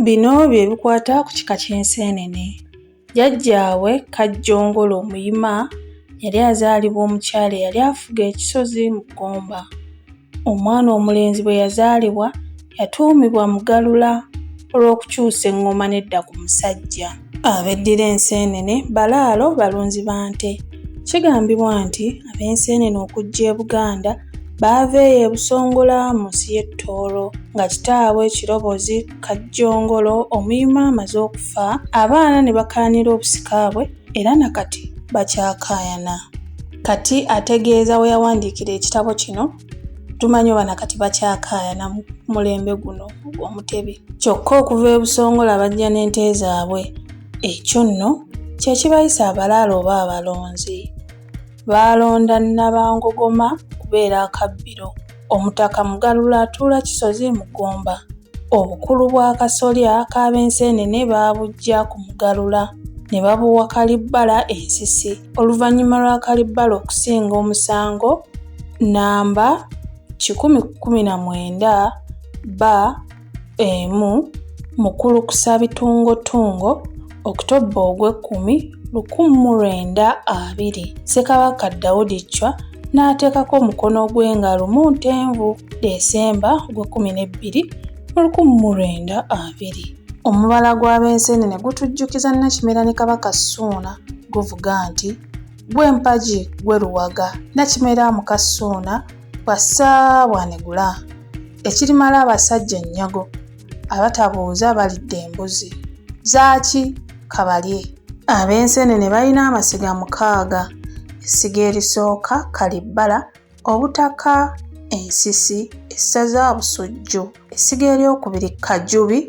Bino bye bikwata ku kika ky'enseenene. Jjajjaabwe Kajjongolo Omuyima yali azaalibwa omukyala eyali afuga ekisozi mu Gomba. Omwana omulenzi bwe yazaalibwa yatuumibwa Mugalula olw'okukyusa eŋŋoma n'edda ku musajja. Abeddira enseenene balaalo balunzi ba nte. Kigambibwa nti ab'enseenene okujja e Buganda baava eyo e Busongola mu nsi y'e Tooro. Nga kitaabwe Kirobozi Kajjongolo Omuyima amaze okufa, abaana ne bakaanira obusika bwe era na kati bakyakaayana. Kati ategeeza we yawandiikira ekitabo kino. tumanyi oba nakati bakyakaayana mu mulembe guno omutebi kyokka okuva ebusongola bajja n'ente zaabwe ekyo nno kye kibayisa abalaalo oba abalonzi baalonda nabangogoma okubeera akabbiro omutaka mugalula atuula kisozi mu ggomba obukulu bw'akasolya k'abenseenene baabujja ku mugalula ne babuwa kalibbala ensisi oluvannyuma lwa Kalibbala okusinga omusango nnamba kikumi kkumi na mwenda ba emu mu kulukusa bitungotungo Okutobba ogw'ekkumi lukumu mu lwenda abiri, Ssekabaka Daudi Chwa n'ateekako omukono gwe nga lumu Ntenvu, Desemba, ogw'ekkumi n'ebbiri mu lukumu mu lwenda abiri. Omubala gw'Abeesene ne gutujjukiza Nakimera ne Kabaka Ssuuna. guvuga nti gwe mpagi gwe luwaga nakimera mu kassuuna bwa ssaabwanegula ekirimala abasajja ennyago abatabuuza balidde embuzi zaaki kabalye ab'enseenene balina amasiga mukaaga essiga erisooka kalibbala obutaka ensisi essaza busujju essiga eryokubiri kajubi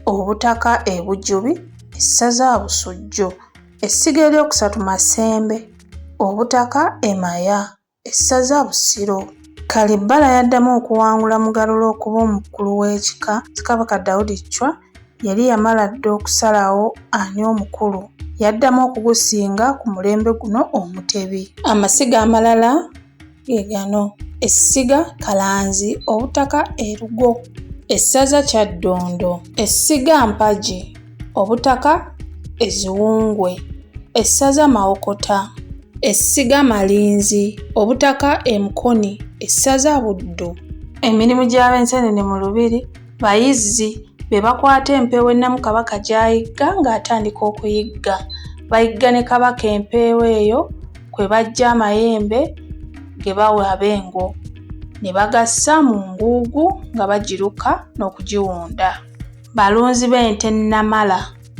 Obutaka e Bujubi, essaza Busujju. Essiga eryokusatu Masembe. Obutaka e Maya, essaza Busiro. Kalibbala yaddamu okuwangula Mugalula okuba omukulu w'ekika. Kabaka Daudi Chwa yali yamala dda okusalawo ani omukulu. Yaddamu okugusinga ku mulembe guno Omutebi. Amasiga amalala. ge gano essiga kalanzi obutaka erugo essaza kyaddondo essiga mpagi obutaka eziwungwe essaza mawokota essiga malinzi obutaka emukoni essaza buddu emirimu gy'ab'enseenene mu lubiri Bayizzi be bakwata empeewo ennamu Kabaka gy'ayigga ng'atandika okuyigga. Bayigga ne Kabaka empeewo eyo kwe baggya amayembe ge bawa Abengo ne bagassa mu nguugu nga bagiruka n'okugiwunda. Balunzi b'ente nnamala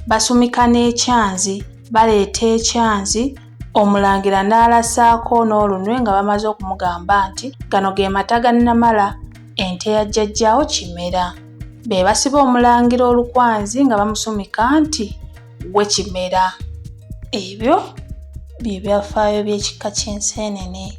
basumika n'ekyanzi, baleeta ekyanzi Omulangira n'alasaako n'olunwe nga bamaze okumugamba nti, Gano ge mata ga nnamala. Ente ya Jjajjaawo Kimera. Be basiba Omulangira olukwanzi nga bamusumika nti, Ggwe Kimera. Ebyo bye byafaayo by'ekika ky'enseenene.